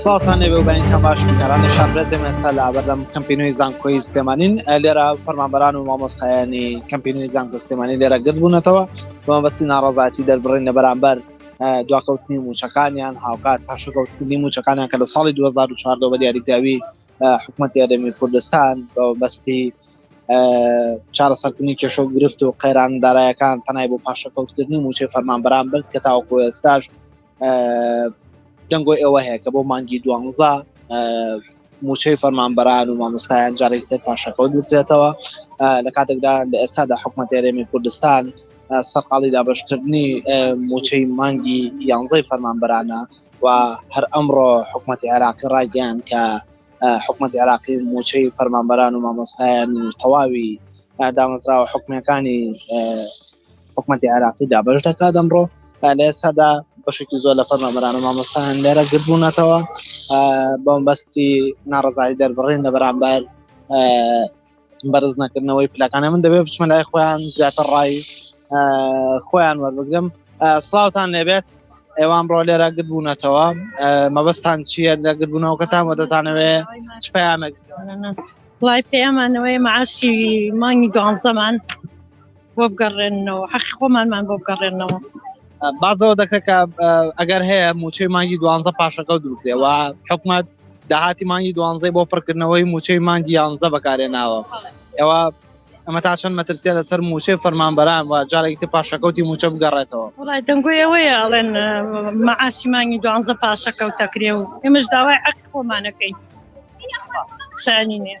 سڵاتان لێبێ و بەین تەماش بینەرانی شاربرەزێم ئێستا لە بەردەم کەمپینوی زانکۆی سلێمانین لێرە فەرمانبەران و مامۆستایانی کەمپینوی زانکۆ سلێمانی لێرە گرد بوونەتەوە بەمەبەستی ناڕازاتی دەربڕین لە بەرامبەر دواکەوتنی موچەکانیان هاوکات پاشەکەوتنی موچەکانیان کە لە ساڵی 2014 بە دیاریکراوی حکوومەت یارێمی کوردستان بە بەستی چارەسەرکردنی کێشە و گرفت و قەیران دارایەکان پەنای بۆ پاشەکەوتکردنی موچەی فەرمان بەرام برد کە تاوەکو ئێستاش دەنگۆ ئێوە هەیە کە بۆ مانگی دوانزە موچەی فەرمان بەران و مامۆستایان جارێک تر پاشەکەوت بکرێتەوە لە کاتێکدا لە ئێستادا حکوومەت یارێمی کوردستان سەرقاڵی دابشکردنی موچەی مانگی یانزەی فەرمان بەرانە و هەر ئەمڕۆ حکوومەتی عێراقی ڕایگەیان کە حکوومەت عێراقی موچەی فەرمانبەران و مامۆستایان و تەواوی دامەزراوە حکومەکانی حکوومەتی عێراقی دابش دەکات ئەمڕۆ لە ئێستادا بەشێکی زۆر لە فەرمانبەران و مامۆستایان لێرە گربوونەتەوە بەمبەستی ناڕزایی دەربڕین لە بەرامبەر بەرز نەکردنەوەی پلەکانە من دەبێت بچمە لای خۆیان زیاتر ڕای خۆیان وەربگرم سلااوان لێبێت ئێوان ڕۆ لێرە گرد بوونەتەوە مەبەستان چییە لە گردبوونەوەکەتان وە دەتانەوێ چ پەیامێک لای پەیامانەوەی معاشی مانگی گوانزەمان بۆ بگەڕێنەوە حەقی خۆمانمان بۆ بگەڕێنەوە بازەوە دەکە کە ئەگەر هەیە موچەی مانگی دوانزە پاشەکە دروکرێەوە حکومت داهاتی مانگی دوانزەی بۆ پڕکردنەوەی موچەی مانگی یانزدە بەکارێ ناوە ئەوە ئەمە تا چەند مەترسیە لەسەر موچەی فەرمانبەران و جارێکی تر پاشەکەوتی موچە بگەڕێتەوە وڵای دەنگۆیەوەیە ئەڵێن مەعاشی مانگی دوانزە پاشەکەوتەکرێ و ئێمەش داوای عەق خۆمانەکەین سانی نیە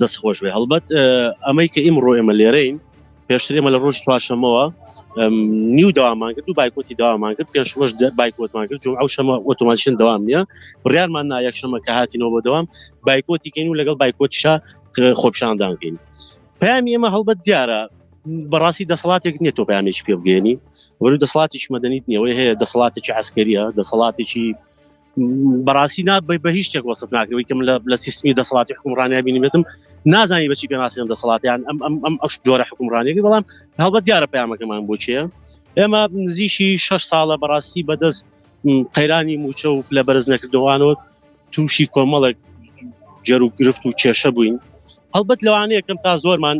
دەست خۆش بێ هەڵبەت ئەمەی کە ئیمڕۆ ئێمە لێرەین پێشتر ئێمە لە ڕۆژ چوارشەمەوە نیو داوامان کرد و بایکۆتی داوامان کرد پێش ڕۆژ بایکۆتمان کرد جم ئەو شەمە ئۆتۆماتشن داوام نیە بڕارمان نایەک شەمە کە هاتینەوە بۆ دەوام بایکۆتی کەین و لەگەڵ بایکۆتیشا خۆپشاندان بکەین پامی ئێمە هەڵبەت دیارە بەڕاستی دەسەڵاتێک نیە تۆ پامێکی پێ بگەێنی وەرو دەسەڵاتیش مەدەنیت نیەوەی هەیە دەسەڵاتێکی عسکەریە دەسەڵاتێکی بەڕاستی نا بە هیچ شتێک وەسف ناکەوەی کەم لە سیستمی دەسەڵاتی حکومڕانیا بینیبێتم نازانی بەچی پێناسیان دەسەڵاتیان ئەم ئەم ئەم ئەش جۆرە حکومڕانێکی بەڵام هەڵبەت دیارە پامەکەمان بۆچیە ئێمە نزیشی 6 ساڵە بەڕاستی بەدەست قەیرانی موچە و لە بەرز نەکردوانەوە تووشی کۆمەڵێک جەر و گرفت و کێشە بووین هەڵبەت لەوانەیە کەم تا زۆرمان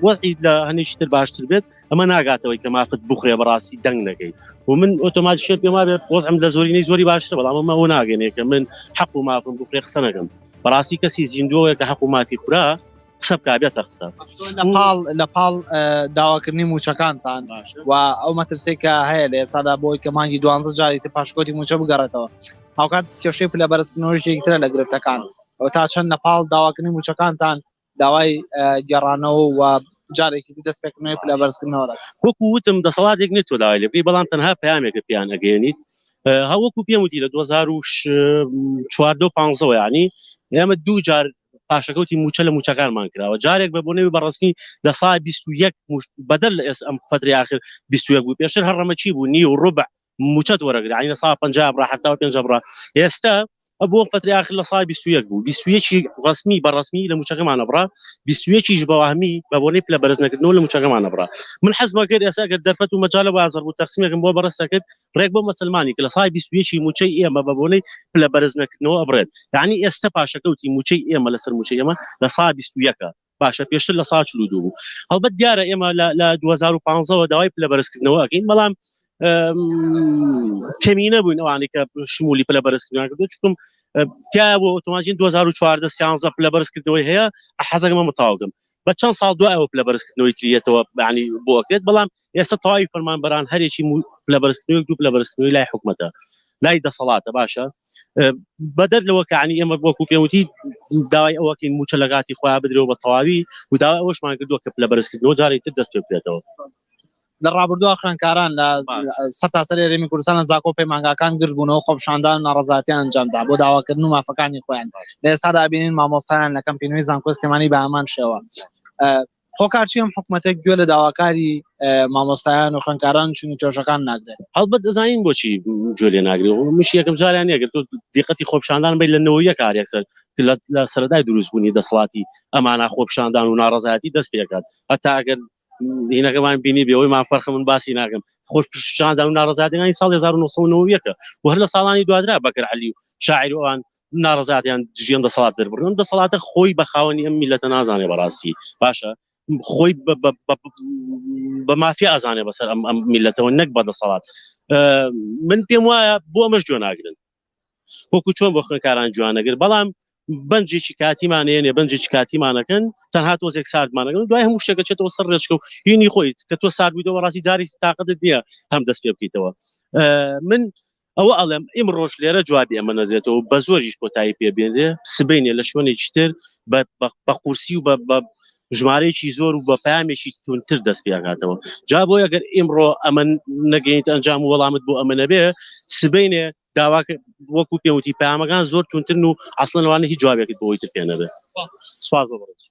وەزی لە هەنیشتر باشتر بێت ئەمە ناگاتەوەی کە مافت بخورێ بەڕاستی دەنگ نەکەیت و من ئۆتۆمات شێت پێما بێت وەزم لە زۆرینەی زۆری باشتر بەڵام ئەمە ئەو ناگەنێ کە من حەق و مافم بخورێ قسە نەکەم بەڕاستی کەسی زیندووەیە کە حەق و مافی خورا قسە بکبێتە قسە لەپاڵ لە پاڵ داواکردنی موچەکانتان و ئەو مەترسی کە هەیە لە ئێسادا بۆی کە مانگی دوانزە جاری تر پاشکۆتی موچە بگەڕێتەوە هاوکات کێشەی پلە بەرزکردنەوەی شێکترە لە گرفتەکان ئەو تا چەند لە پاڵ داواکردنی موچەکانتان داوای گێڕانەوە و جارێکی دی دەستپێکردنەوەی پلە بەرزکردنەوە دەکەن. وەکو وتم دەسەڵاتێک نیە تۆ داوای لێ بکەی بەڵام تەنها پەیامێکە پێیان ئەگەیەنیت ها وەکو پێم وتی لە 2014 و 15 وە یانی ئێمە دوو جار پاشەکەوتی موچە لە موچەکانمان کراوە جارێک بە بۆ نەوی بەڕسمی لە سا 21 بەدەر لە ئێس ئەم فتری آخر 21 بوو پێشتر هەر ڕەمەچی بوو نی و ڕوبع موچەت وەرەگرە عین سا پنج بڕە حتا پێنج بڕە ئێستا بۆ پەتری آخر لە سای 21 بوو 21 ڕسمی بە ڕسمی لە موچەکەمانە بڕە 21 بەواهمی بە بۆنی پلە بەرز نەکردنەوە لە موچەکەمانە بڕە من حەزمە کرد ئێستا گەر دەرفەت و مەجالە بازەر بوو تەقسیمێکم بۆ بەڕستە کرد ڕێک بۆ مسلمانی کە لە سای 21 موچەی ئێمە بە بۆنەی پلە بەرز نەکردنەوە ئەبرێت یعنی ئێستا پاشەکەوتی موچەی ئێمە لەسەر موچەی ئێمە لە سا 21 باشە پێشتر لە سا چلو دوو بوو هەڵبەت دیارە ئێمە لە 2015ەوە داوای پلە بەرزکردنەوە ئەگەین بەڵام کەمینە بووین ئەوانی کە شمولی پلە بەرزکردن کردو چکم تیا بۆ ئۆتۆماژین 2014 سیانزە پلە بەرزکردنەوەی هەیە حەزەکەمە متاوگەم بە چەند ساڵ دو ئەوە پلە بەرزکردنەوەی تریەتەوە بەانی بۆکرێت بەڵام ئێستا تەواوی فەرمانبەران هەرێکی لە بەرزکردنەوەی دوو لە بەرزکردنەوەی لای حکومەتە لای دەسەڵاتە باشە بەدەر لەوە کەعنی ئێمە بۆکو پێوتی داوای ئەوەکەین موچە لەگاتی خۆیان بدرەوە بە تەواوی و داوای ئەوەشمان کردووە کە لە بەرزکردنەوە جارێک تر دەست پێ بکرێتەوە لە ڕابردووە خوێنکاران لە سەر تاسەر ێرێمی کوردستان زاکۆ پەیمانگاکان گردبوونەوە خۆپشاندان ناڕزاتیان ئەنجامدا بۆ داواکردن و مافەکانی خۆیان لە ئێستادا بینین مامۆستایان لەکەم پینوی زانکۆستێمانی بە ئامان شێوە هۆکارچی ئەم حکومەتە گوێ لە داواکاری مامۆستایان و خوێنکاران چون و توێژەکان ناگرێت هەڵبەت دەزانین بۆچی گوێ لێ ناگرێت و مش یەکەم جاریان نەگرت و دیقەتی خۆپیشاندان بین لە نەوەیە کار یەکسەر لە سەرەدای دروستبوونی دەسەڵاتی ئەمانە خۆپیشاندان و ناڕەزایەتی دەست پێکات هەتا ئەگەر هینەکەمان بینی بێەوەی ما فەرخە من باسی ناکەم خۆش پیشاندان و ناڕزادەکانی ساڵ 1990ەکە و هەر لە ساڵانی دوادرا بەکر علی و شاعروان ناڕەزایەتیان دژی ئەم دەسەڵات دەربڕی ئەم دەسەڵاتە خۆی بە خاوەنی ئەم میلەتە نازانێ بەڕاستی باشە خۆی بە مافیا ئازانێ بەسەر ئەم ئەم میلەتەوە نەک بە دەسەڵات من پێم وایە بۆ ئەمەش جوێ ناگرن وەکو چۆن بۆ خوێنکاران جوانەگر بەڵام بنجێکی کاتیمان هێنێ بنجێکی کاتیمانەکەن تەنها تۆزێک ساردمانەکەن دوای هەموو شتێکە چێتەوە سەر ڕێچکە و هینی خۆیت کە تۆ ساردبییتەوە ڕاستی جاری تااقدت نییە هەم دەست پێ بکەیتەوە من ئەوە ئەڵێم ئیمڕۆش لێرە جوابی ئەمە نەدرێتەوە و بەزۆریش کۆتایی پێ بێنرێ، سبەینێ لە شوێنێکی تر بە قورسی و بە ژمارەیەکی زۆر و بە پەیامێکی توندتر دەست پێ ئەکاتەوە. جا بۆیە گەر ئیمڕۆ ئەمە نەگەینیتە ئەنجام و وەڵامت بۆ ئەمە نەبێ، سبەینێ داوا وەکوو پێم وتی پەیامەکان زۆر توندترن و ئەسڵەن لەوانەیە هیچ جوابێکت بۆ ئەوی تر پێ نەبێ. سپاس بۆ بەڕێزت.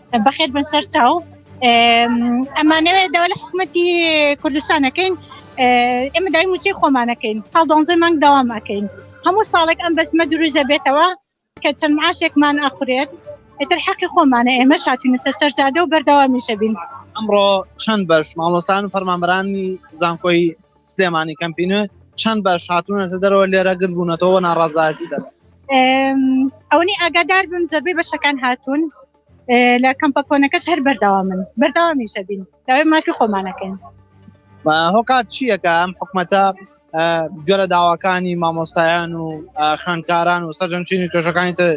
بەخێر بن سەر چاو ئەمانەوێت داوا لە حکوومەتی کوردستانەکەین ئێمە دای موچەی خۆمانەکەین ساڵ دۆزە مانگ داوامەکەین هەموو ساڵێک ئەم بەسمە دروزە بێتەوە کە چەند معاشێکمان ئەخورێت ئەتر حەقی خۆمانە ئێمە شاتونەتە سەرجادە و بەردەوامیشە بین ئەمڕۆ چەند بەش مامۆستان و فەرمانبرانی زانکۆی سلێمانی کەمپینوێ چەند بەش هاتوونەتە دەرەوە لێرە گرد بوونەتەوە ناڕازایەتی دەبێت ئەونی ئاگادار بم زەبەی بەشەکان هاتوون لە کەمپە کۆنەکەش هەر بەرداوا من بەرداوامیشە بین داوای مافی خۆمانەکەین هۆکات چییەکە ئەم حکومەتە گوێرە داواکانی مامۆستایان و خوێندکاران و سەرجەمچینی تۆشەکانی تر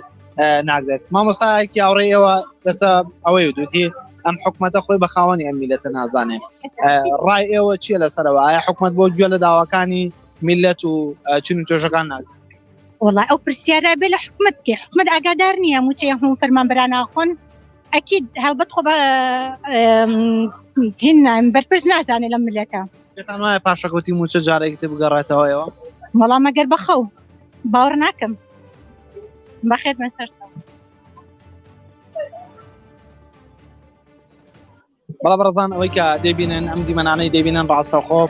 ناگرێت مامۆستایەکی ئاوڕێ ئێوە لەسە ئەوەی دوتی ئەم حکوومەتە خۆی بە خاوەنی ئەم میلەتە نازانێت ڕای ئێوە چییە لەسەرەوە ئایا حکوومەت بۆ گوێ لە داواکانی میلەت و چین تۆژەکان ناگرێت وڵای ئەو پرسیارە بێ لە حکومت کێ حکومت ئاگادار نییە موچێ هەم فەرمان براناخۆن ئەکیید هەڵبەت خۆ هیننایم بەرپرس نازانێت لە ملەکە پاشەکەوتی موچە جارێکتە بگەڕێتەوەەوە مەڵام مەگەر بەخەو باوەڕ ناکەم بەخێت بە سەرتەوە بەڵا بەڕزان ئەوەی کە دەبینن ئەم دیمەنانەی دەبینن ڕاستەخۆ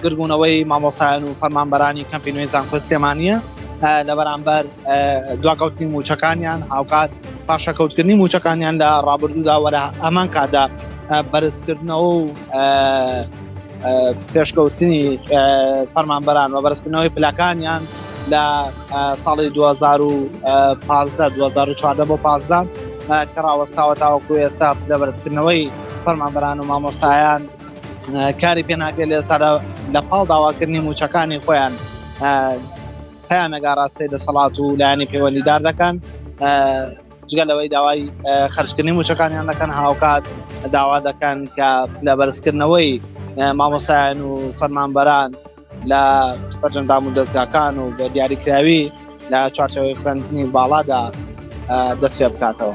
گربوونەوەی مامۆسایان و فەرمانبەرانی کەمپی نوێی زانکۆست تێمانە لە بەرامبەر دواکەوتنی موچەکانیان هاوکات پاشەکەوتکردنی موچەکانیان لە ڕابردوودا وەرە ئەمان کادا بەرزکردنەوە و پێشکەوتنی فەرمانبەران و بەرزکردنەوەی پلەکانیان لە ساڵی 2015 2014 بۆ 15 کە ڕاوەستاوە تاوەکو ئێستا لە بەرزکردنەوەی فەرمانبەران و مامۆستایان کاری پێناکرێت لە ئێستادا لە پاڵ داواکردنی موچەکانی خۆیان پامێگا ڕاستەی دەسەڵات و لایەنی پەیوەندیدار دەکەن جگە لەوەی داوای خرجکردنی موچەکانیان دەکەن هاوکات داوا دەکەن کە لە بەرزکردنەوەی مامۆستایان و فەرمانبەران لە سەرجەندام و دەستگاکان و بە دیاریکراوی لە چوارچەوەی خوێندنی باڵادا دەست پێ بکاتەوە.